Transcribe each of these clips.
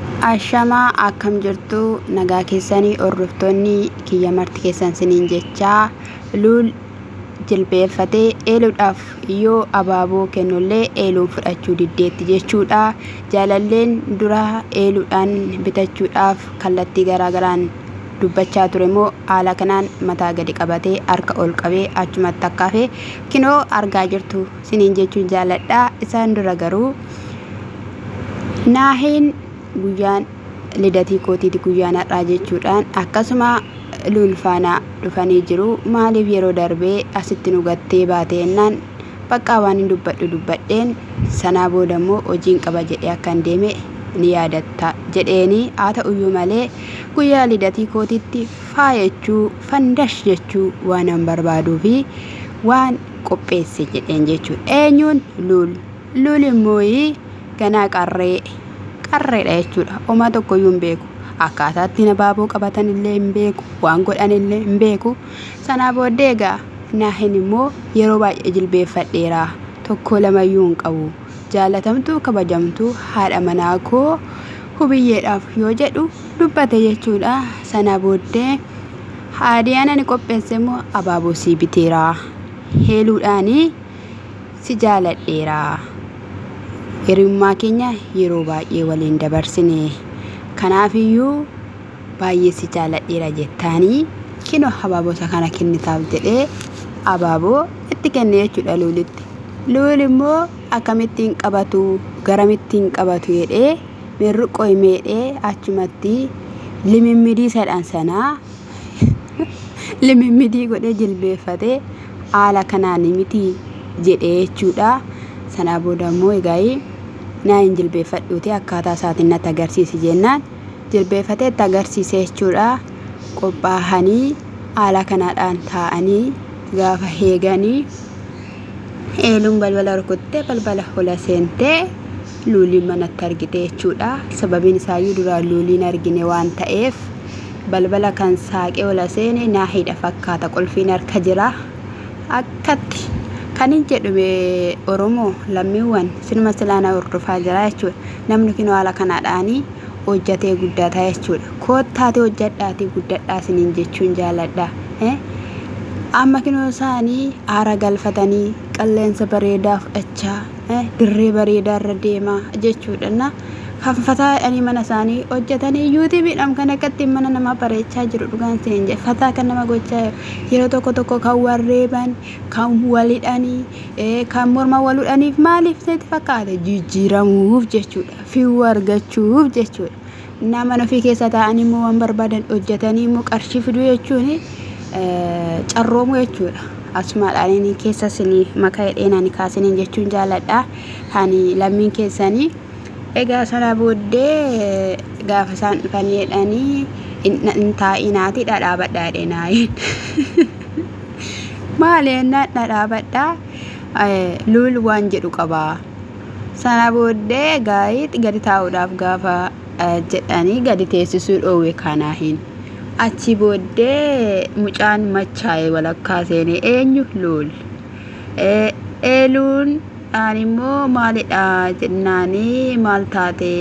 Ashamaa akkam jirtu nagaa keessanii hordoftoonni kiyya marti keessan siniin jechaa luul jilbeeffatee eeluudhaaf yoo abaaboo kennullee eeluun fudhachuu diddeetti jechuudha jaalalleen dura eeluudhaan bitachuudhaaf kallattii garaagaraan dubbachaa ture moo haala kanaan mataa gadi qabatee harka ol qabee achumatti akka hafe kinoo argaa jirtu siniin jechuun jaaladha isaan dura garuu naaheen guyyaan lidatii kootiiti guyyaan har'aa jechuudhaan akkasuma luulfaanaa dhufanii jiru maaliif yeroo darbee asitti nu gattee baate ennaan baqqaa waan hin dubbadhu dubbadheen sanaa booda immoo hojiin qaba jedhee akkan deeme ni yaadatta jedheeni haa ta'uyyuu malee guyyaa lidatii kootitti faayachuu fandash jechuu waanan barbaaduu fi waan qopheesse jedheen jechuudha. Eenyuun luul luul immoo ganaa qarree qarreedha jechuudha. Homaa tokkoyyuu hin beeku. Akkaataa ittiin abaaboo qabatan illee hin beeku. Waan godhan illee hin beeku. Sanaa booddee egaa naahin immoo yeroo baay'ee jilbeeffadheera. Tokkoo lamayyuu hin qabu. Jaalatamtuu kabajamtuu haadha manaa koo hubiyyeedhaaf yoo jedhu dubbate jechuudha. Sanaa booddee Haadiyaan ani qopheesse immoo abaaboo sii biteera. Heeluudhaani si jaaladheera. Hiriyummaa keenya yeroo baay'ee waliin dabarsine. Kanaafiyyuu baay'ee si jaaladheera jettaanii kino abaaboosa kana kennitaaf jedhee abaaboo itti kenne jechuudha luulitti. Luul immoo akkamittiin qabatu garamittiin qabatu jedhee Mirru qoy meedhe achumatti limimmidii sadhan sana limimmidii godhee jilbeeffate haala kanaan miti jedhee jechuudha. Sanaa booda immoo egaa naa hin jilbeeffadhuuti akkaataa isaatiin natti agarsiisi jennaan jilbeeffatee itti agarsiise jechuudha. Qophaahanii haala kanaadhaan taa'anii gaafa heeganii Eeluun balbala rukuttee balbala hola seentee luuliin manatti argite jechuudha. Sababiin isaayyuu duraan luuliin argine waan ta'eef balbala kan saaqee hola seene naahiidha fakkaata qulfiin harka jira. Akkatti kan hin jedhume Oromoo lammiiwwan sinuma silaana hordofaa jira jechuudha. Namni kinoo haala kanaadhaanii hojjatee guddataa jechuudha. Koottaati hojjadhaati guddadhaa siniin jechuun jaaladha. Amma kinoo isaanii aara galfatanii qilleensa bareedaa fudhachaa dirree bareedaa irra deemaa jechuudha. Na fataa jedhanii mana isaanii hojjetanii yuutuubiidhaan kan akka ittiin mana namaa bareechaa jiru dhugaan seen jedhe fataa kan nama gochaa yeroo tokko tokko kan wal reeban kan walidhanii kan morma waludhaniif maaliif seeti fakkaate jijjiiramuuf jechuudha fiiwuu argachuuf jechuudha. Innaa mana ofii keessa taa'anii immoo waan barbaadan hojjetanii immoo qarshii fiduu jechuun carroomuu jechuudha. Asumaadhaan inni keessa isinii maka hidheen ani kaasiniin jechuun jaaladha. Ani lammiin keessanii. Egaa sana booddee gaafa isaan dhufanii jedhanii hin taa'inaati dhadhaabadha jedheen aayeen. Maali jennaan dhadhaabadha luul waan jedhu qabaa. Sana booddee Gaayit gadi taa'uudhaaf gaafa jedhanii gadi teessisuu dhoowwe Kaanaahiin. Achi booddee mucaan machaa'e walakkaa seene eenyu? Luul. Eeluun ani immoo maalidha jennaanii maal taate?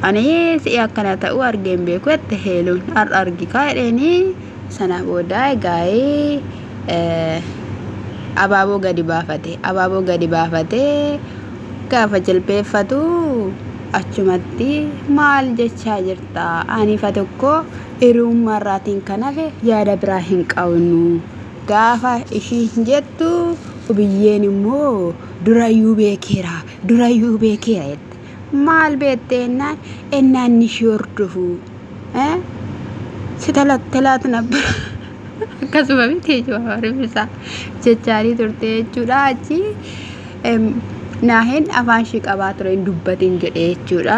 Ani si'i akkana ta'u argeen beeku jette Heeluun. Har'a argikaa jedheenii sana booda Gaayit. abaaboo gadi baafate abaaboo gadi baafatee gaafa jilbeeffatu achumatti maal jechaa jirta aniifa tokko hiriyummaa irraatiin kan hafe yaada biraa hin qabnu gaafa ishiin jettu biyyeen immoo durayyuu beekeera durayyuu beekeera jette Maal beekte ennaan ennaan inni ishii hordofu eh? si talattalaatu nabbara akkasuma miti jechuudha rifisa jechaarii turte jechuudha achi em, naahin afaan ishii qabaa ture hin dubbatin jedhe jechuudha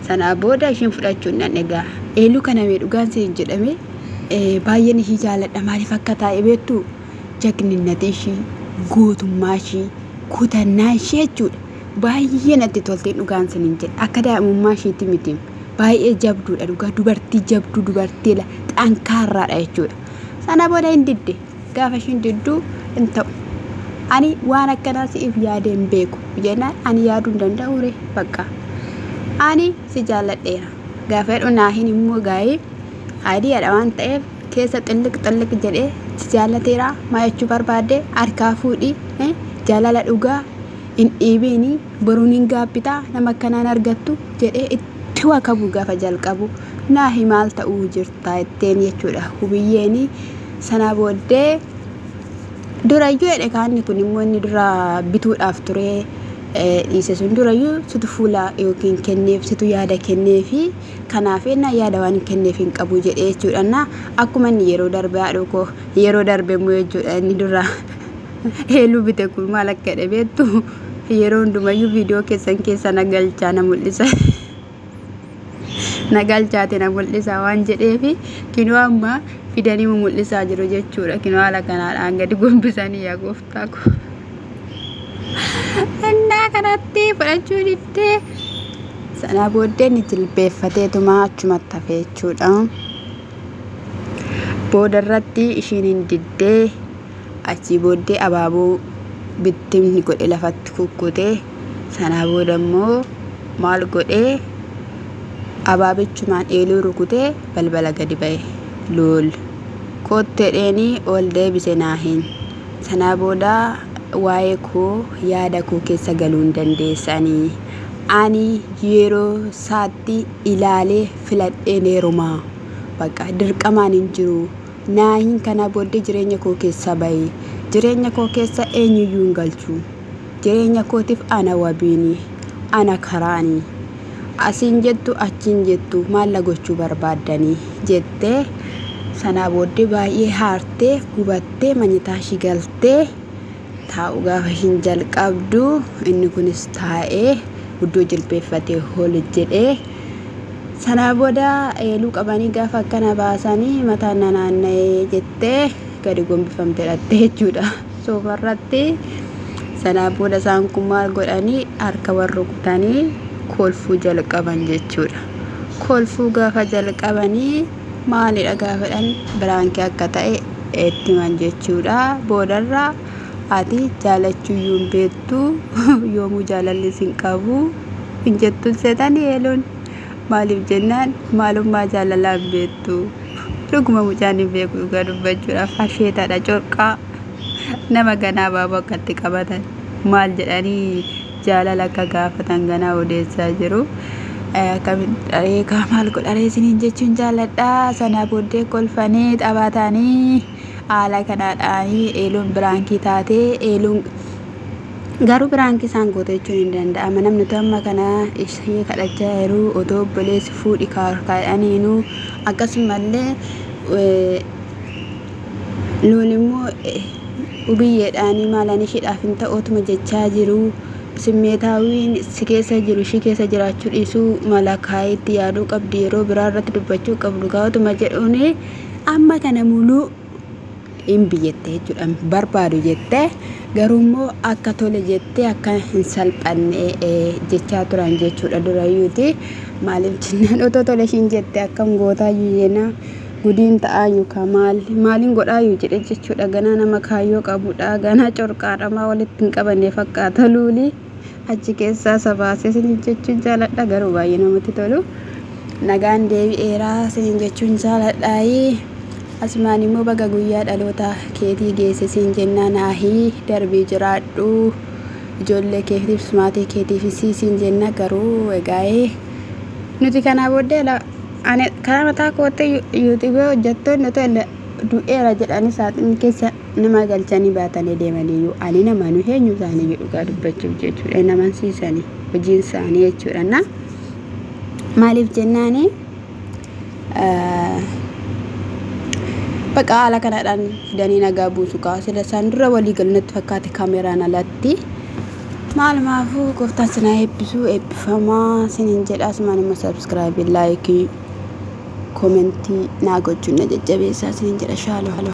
sanaa booda ishiin fudhachuun nan egaa eeluu kana mee dhugaan siin jedhame eh, baay'een ishii jaaladha maaliif akka taa'e beektu jagninnati ishii gootummaa ishii kutannaa ishii jechuudha Baay'ee natti toltee dhugaan sinin jedhe akka daa'imummaa ishiitti miti baay'ee jabduudha dhugaa dubartii jabduu dubartii la- xankaarraadha jechuudha. Sana booda hin didde gaafa ishiin didduu hin ta'u. Ani waan akkanaa si'if yaadee hin beeku jennaan ani yaaduu hin danda'u ree bakka. Ani si jaalladheera gaafa jedhu naahin immoo gaa'ee ayidiyaadha waan ta'eef keessa xilliq xilliq jedhee si jaallateera maa jechuu barbaadde harkaa fuudhii eh, jaalala dhugaa hin dhiibiini boruun hin gaabbitaa nama akkanaa hin argattu jedhee itti wakabuu gafa jalqabu naahi maal ta'uu jirtaa itteen jechuudha hubiyyeeni sanaa booddee durayyuu jedhe kaanni kun immoo inni dura bituudhaaf turee dhiise sun durayyuu situ fuula yookiin kenneef situ yaada kenneefi kanaaf ennaa yaada waan kenneef hin qabu jedhee jechuudha na akkuma inni yeroo darbe haadhoo koo yeroo darbe immoo jechuudha inni dura Eelu bite kun maal akka jedhe beektu yeroo hundumayyuu viidiyoo keessan keessa na galchaa na mul'isa. na galchaati na mul'isa waan jedheefi kinoo amma fidanii mu mul'isaa jiru jechuudha kinoo haala kanaadhaan gadi gombisanii yaa gooftaa koo. Innaa kanatti fudhachuu diddee sana booddee ni jilbeeffateetuma achumatti hafe jechuudha. Booda irratti ishiin hin diddee Achii booddee abaaboo bittimni godhe lafatti kukkute. Sanaa booda immoo maal godhe abaabichumaan eeluu rukute balbala gadi ba'e. Luul kootteedheenii ol deebise naahin. Sanaa booda waa'ee koo yaada koo keessa galuu hin dandeessanii. Ani yeroo isaatti ilaalee filadheen heerumaa. Bakka dirqamaan hin jiru. Naahiin kanaa booddee jireenya koo keessaa bahi. Jireenya koo keessa eenyuyyuu hin galchu. Jireenya kootiif ana wabiini. Ana karaani. Asiin jettu achiin jettu maalla gochuu barbaaddani? jettee sanaa booddee baay'ee haartee gubattee manyitaa ishii galtee Taa'uu gaafa ishiin jalqabdu inni kunis taa'ee guddoo jilbeeffatee hol jedhee sanaa booda eeluu qabanii gaafa akkana baasanii mataan na naanna'ee jettee gadi gombifamtee dhattee jechuudha soofarratti sanaa booda isaan kun maal godhanii harka wal rukutanii kolfuu jalqaban jechuudha kolfuu gaafa jalqabanii maalidha gaafadhan biraankii akka ta'e itti himan jechuudha boodarra ati jaalachuu iyyuu hin beektu yoomuu jaalalli sin qabu hin jettuun seetanii eeluun maaliif jennaan maalummaa jaalalaa hin beektu dhuguma mucaan hin beeku dhugaa dubbachuudhaaf asheetadha corqaa nama ganaa baaboo akkatti qabatan maal jedhanii jaalala akka gaafatan ganaa odeessaa jiru. Akkamitti dharee kaa maal godharee isiniin jechuun jaalladha. Sana booddee kolfanii taphatanii haala kanaadhaan eeluun biraankii taatee eeluun garuu biraankii isaan goote jechuun hin danda'ama. Namni utuu amma kana ishee kadhachaa jiru otoo obboleessi fuudhi kaa'aniinu akkasumallee Nuun immoo Wubiyyeedhaan maalaan ishiidhaaf hin ta'u otuma jechaa jiruu simmeetaawiin si keessa jiru ishii keessa jiraachuu dhiisuu mala kaa'ee itti yaaduu qabdi yeroo biraa irratti dubbachuu qabdu kaa otuma jedhuun amma kana muluu hin biyyette jechuudha hin barbaadu jette garuu immoo akka tole jettee akka hin salphanne jechaa turan jechuudha durayyuuti maaliif jennaan otoo tole ishiin jette akkam gootaa yuyyeenaa Gudiin ta'aayyu kaa maal maalin godhaayyu jedhe jechuudha ganaa nama kaayyoo qabudha ganaa corqaadha maa walitti hin qabanne fakkaata luuli achi keessaa isa baasee sinin jechuun jaaladha garuu baay'ee namatti tolu nagaan deebi'eeraa sinin jechuun jaaladhaayi asumaan immoo baga guyyaa dhaloota keetii geesse siin jennaa naahii darbii jiraadhu ijoollee keetiifis maatii keetiifis siin jenna garuu egaa'ee nuti kanaa booddee Ani karaa mataa kootti yuutuubii hojjettoonni otoo du'eera jedhanii saaxinni keessa nama galchanii baatanii deemaniyyuu ani nama nu eenyu isaaniyyuu dhugaa dubbachuuf jechuudha hin amansiisanii hojiin isaanii jechuudha na maaliif jennaani baqa haala kanadhaan fidanii nagaa buusu kaa sila isaan dura walii galnatti fakkaate kaameraan alatti Maalumaafuu gooftaan sinaa eebbisuu eebbifamaa sinin jedha asumaan immoo subscribe like komentii naa gochuun na jajjabeessaa sinin jedha shaaloo.